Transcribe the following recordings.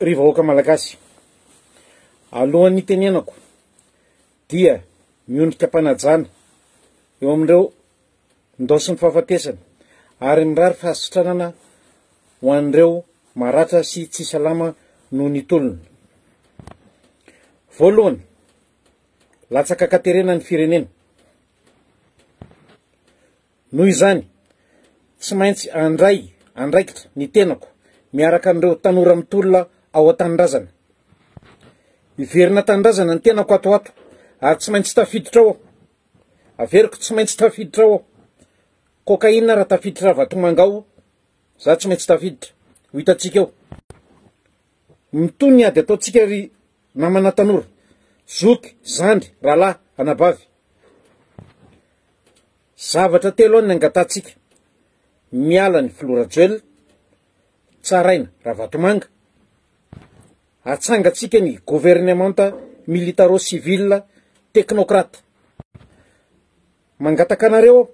Ry vahoaka Malagasy, alohan'ny hitenenako dia miondrika am-panajana eo amin'ireo ndaosin'ny fahafatesana ary mirary fahasitranana ho an'ireo maratra sy tsy salama noho ny tolona. Voalohany, latsaka an-katerena ny firenena. Noho izany, tsy maintsy handray andraikitra ny tenako miaraka amin'ireo tanora mitolona ao an-tanindrazana. Hiverina an-tanindrazana ny tenako ato ho ato, ary tsy maintsy tafiditra ao aho. Averiko, tsy maintsy tafiditra ao aho. Cocaïne raha tafiditra Ravatomanga ao, za tsy maintsy tafiditra. Ho hitantsika eo. Mitohy ny ady ataontsika ry namana tanora, zoky, zandry, rahalahy, anabavy. Zavatra telo ny angatahantsika, miala ny filoha Rajoelina, tsaraina Ravatomanga, atsangantsika ny governemanta militaro civil teknokrata. Mangataka anareo aho,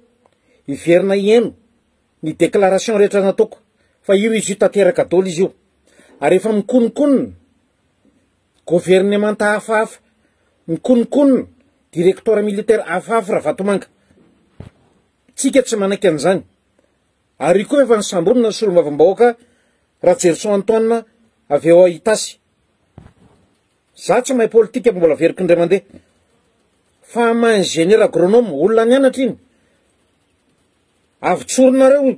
hiverina hihaino ny declaration rehetra nataoko fa io izy io tanteraka daholo izy io ary efa mikonokonona, governemanta hafahafa, ny kononkonona, directoire militaire hafahafa Ravatomanga. Tsika tsy manaiky an'izany. Ary koa efa nisambonina ny solombavambahoaka Rajerison Antoine avy ao Itasy. Za tsy mahay politika fa mbola averiko indray mandeha. Fa maha ingénieur agronome, olona nianatra iny. Avy tsorinareo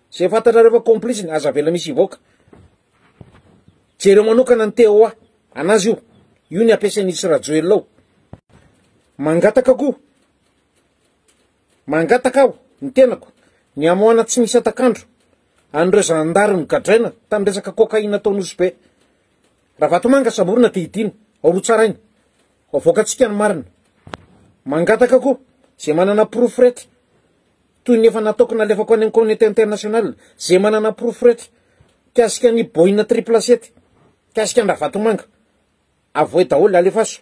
Zay fantatrareo fa complice ny aza avela misy hivoaka. Jereo manokana ny TOA anazy io. Io ny ampiasain'izy sy Rajoelina ao. Mangataka ko. Mangataka aho ny tenako ny hamoahana tsy misy atakandro an'ireo zandary nogadraina tamin'ny resaka cocaïne tao Nosy Be. Ravatomanga samborina dia hidiana ao Rotsaraina. Havoakantsika ny marina. Mangataka ko ze manana porofo rety. toy ny efa nataoko nalefako any amin'ny communauté internationale izay manana porofo rehetra mikasika an'i Boina Triple Sept, mikasika an-dRavatomanga. Avohay daholo, alefaso.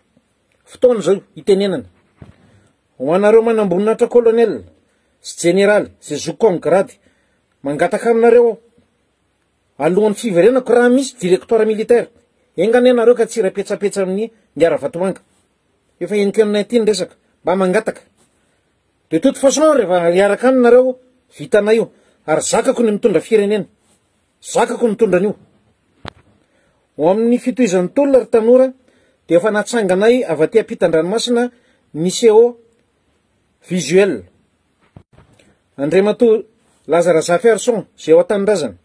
Fotoana izao hitenenana. Ho anareo manamboninahitra colonel sy jeneraly izay zoky comme grade, mangataka aminareo aho, alohan'ny fiverenako raha misy directoire militaire, enga anie nareo ka tsy hiray petsapetsa amin'ny Mia Ravatomanga. Efa henoko henona ity ny resaka. Mba mangataka. De toute façon rehefa hiaraka any nareo vitanay io ary zakako ny mitondra firenena, zakako ny mitondra an'io. Ho amin'ny fitohizan'ny tolona ry tanora dia efa natsanganay avy aty ampitan-dranomasina ny seau visuel. Andriamatoa Laza Razafiarison izay ao an-tanindrazana,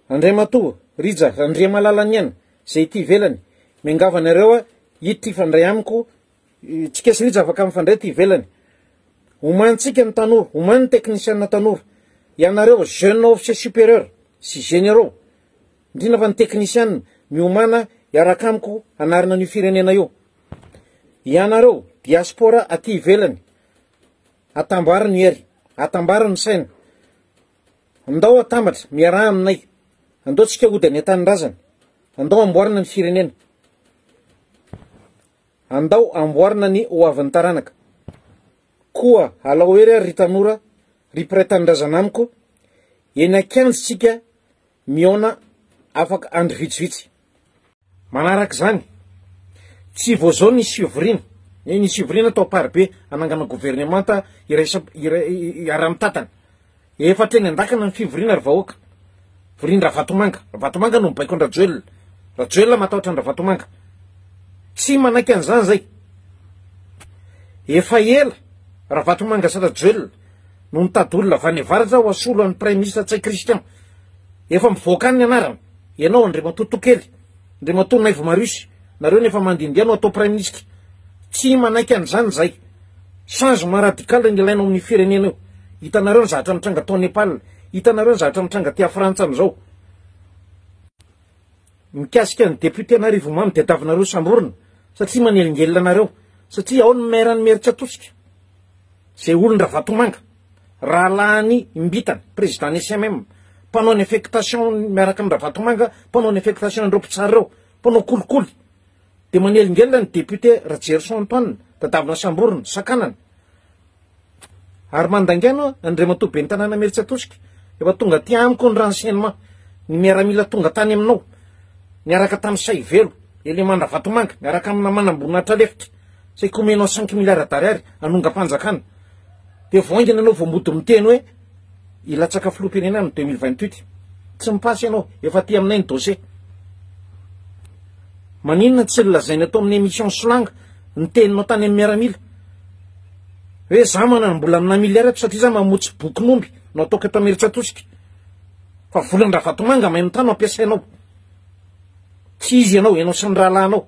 Andriamatoa Rija Randriamalala Niaina izay ety ivelany, miangavy anareo hiditra hifandray amiko Tsy kesin'ija afaka mifandray aty ivelany. Omanintsika ny tanora, omany ny teknisiana tanora. Ianareo jeune officier supérieur sy généraux, indrindra fa ny teknisiana, miomana hiaraka amiko hanarina an'io firenena io. Ianareo diaspora aty ivelany, atambaro ny hery, atambaro ny saina. Andao atambatra, miaraha aminay. Andao tsika hody any an-tanindrazana. Andao amboarina ny firenena. Andao amboarina ny ho avin'ny taranaka. Koa alao hery ary ry tanora, ry mpiray tanindrazana amiko, eny an-kianja isika mihaona afaka andro vitsivitsy. Manaraka izany, tsy vao izao nisy fivoriana, eny nisy fivoriana tao Amparibe hanangana governemanta iraisam-, iray, iaraha-mitatana. Efa hatreny an-dakana ny fivoriana ry vahoaka. Vorian-dRavatomanga. Ravatomanga no mibaiko an-dRajoelina. Rajoelina matahotra an-dRavatomanga. Tsy manaiky an'izany izay. Efa ela Ravatomanga sy Rajoelina no nitady olona avy any avaratra ho asolo an'i Praiminisitra Ntsay Christian. Efa mivoaka any ny anarany. Ianao Andriamatoa Tokely. Andriamatoa Naivo Marius, nareo ny efa mandindia no atao Praiminisitra. Tsy manaiky an'izany izahay. Changement radical no ilaina ao amin'ny firenena eo. Hitanareo ny zavatra mitranga tao Nepal, hitanareo ny zavatra mitranga aty Frantsa amin'izao. Mikasika ny Député an'Arivomamo diadavinareo samborina satria manelingelina anareo, satria ao ny Maire an'Imerintsiatosika, izay olon-dRavatomanga. Rahalahiny Imbitany, président ny SMM, mpanao ny affectation miaraka amin'ny Ravatomanga, mpanao ny affectation ireo mpitsara ireo, mpanao kolikoly. Dia manelingelina ny député Rajerison Antoine, dadavina samborina, sakanana. Ary mandaingaina Andriamatoa Ben'ny Tanàna Imerintsiatosika, efa tonga aty amiko ny renseignement, ny miaramila tonga tany aminao, niaraka tamin'i Saivelo, élément Ravatomanga, miaraka amina manamboninahitralefitra. Saika omenao cinq milliards d'ariary hanongam-panjakana. Dia vao haingana ianao vao mody miteny hoe hilatsaka filoham-pirenena amin'ny deux mille vingt huit. Tsy mi-passe ianao, efa aty aminay ny dossier. Maninona tsy nolazainy ato amin'ny émission Solanga ny teninao tany amin'ny miaramila? Hoe za manam-bola amina milliard ato satria za mamotsy bokin'omby no ataoko eto Imerintsiatosika. Fa volan-dRavatomanga mahay mitana no ampiasainao. Tsy izy ianao, ianao sy ny rahalahinao.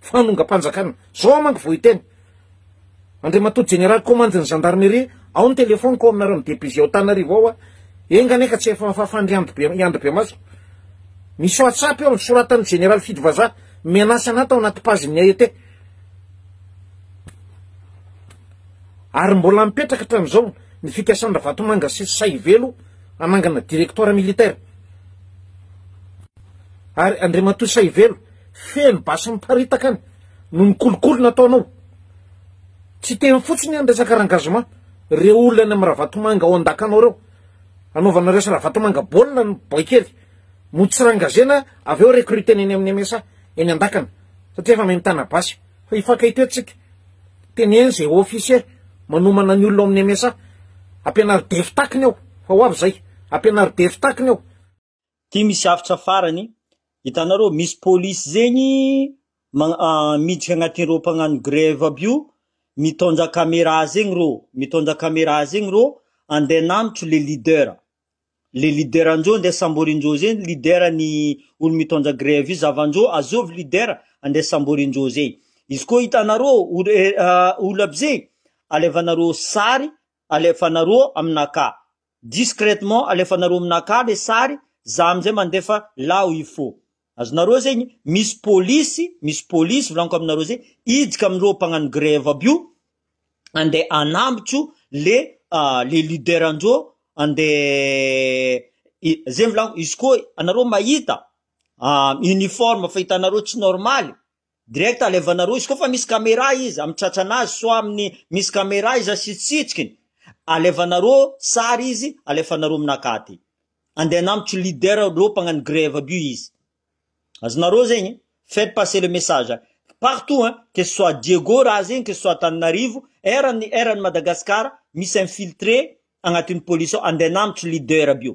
fanongam-panjakana. Zao aho manko vao hiteny. Andriamatoa Jeneraly Komandin'ny Zandarmeria, ao ny telefoniko ao aminareo amin'ny DPG ao Tanarivo ao aho. Enga anie ka tsy efa fafan'ny ry Andry Be- i Andry Bemaso. Misy WhatsApp eo nosoratan'ny Jeneraly Fidy Vazaha, menace anà tao anaty page-n'ny AET. Ary mbola mipetraka hatramin'izao ny fikasan-dRavatomanga sy Saivelo hanangana directoire militaire. Ary Andriamatoa Saivelo, Feno basy miparitaka any no ny kolikoly nataonao. Tsy teny fotsiny any resaka rangazement, reo olona any am ravatomanga ao andakanao reo, anaovanareo sy ravatomanga baolina ny boaikely, mody tsy rangazena avy eo recrutena eny aminy MSA eny andakana satria efa mahay mitana basy, fa hifankay teo tsika, teneno ze officier manomana ny olona ao aminy MSA, ampianaro defy takiny ao, fa ho avy zay, ampianaro defy takiny ao. Ty misy haftra farany, hitanareo misy polisy zegny miditra agnaty reo mpagnano grève aby io mitondra camera zegny reo, mitondra camera zegny reo andeha hananotro le leader, le leader ndreo andeha samborindreo zay leader ny olo mitondra grève io zavan-dreo azovy leader andeha samborindreo zay, izy koa hitanareo olo aby zay alevanareo sary alefanareo aminakà discrètement alefanareo aminakà le sary za amizay mandefa là où il faut azonareo zegny misy polisy misy polisy volaniko aminareo zay hiditra amireo mpagnano grève aby io ande anambotro le le leader ndreo ande zegny volaniko izy koa anareo mahita uniforme fa hitanareo tsy normaly Direct alevana roa izy koa fa misy camera izy amin'ny tratrana azy soit amin'ny misy camera izy sy tsitsikiny alevana roa sary izy alefana roa amina katy andeha hanambotry leader reo mpagnano grève aby io izy azonareo zegny faites passer le message partout hein que ce soit Diego raha zegny que ce soit Tananarivo eran'ny eran'ny Madagascar misy infiltré agnatin'ny police ao andeha hanambotry leader aby io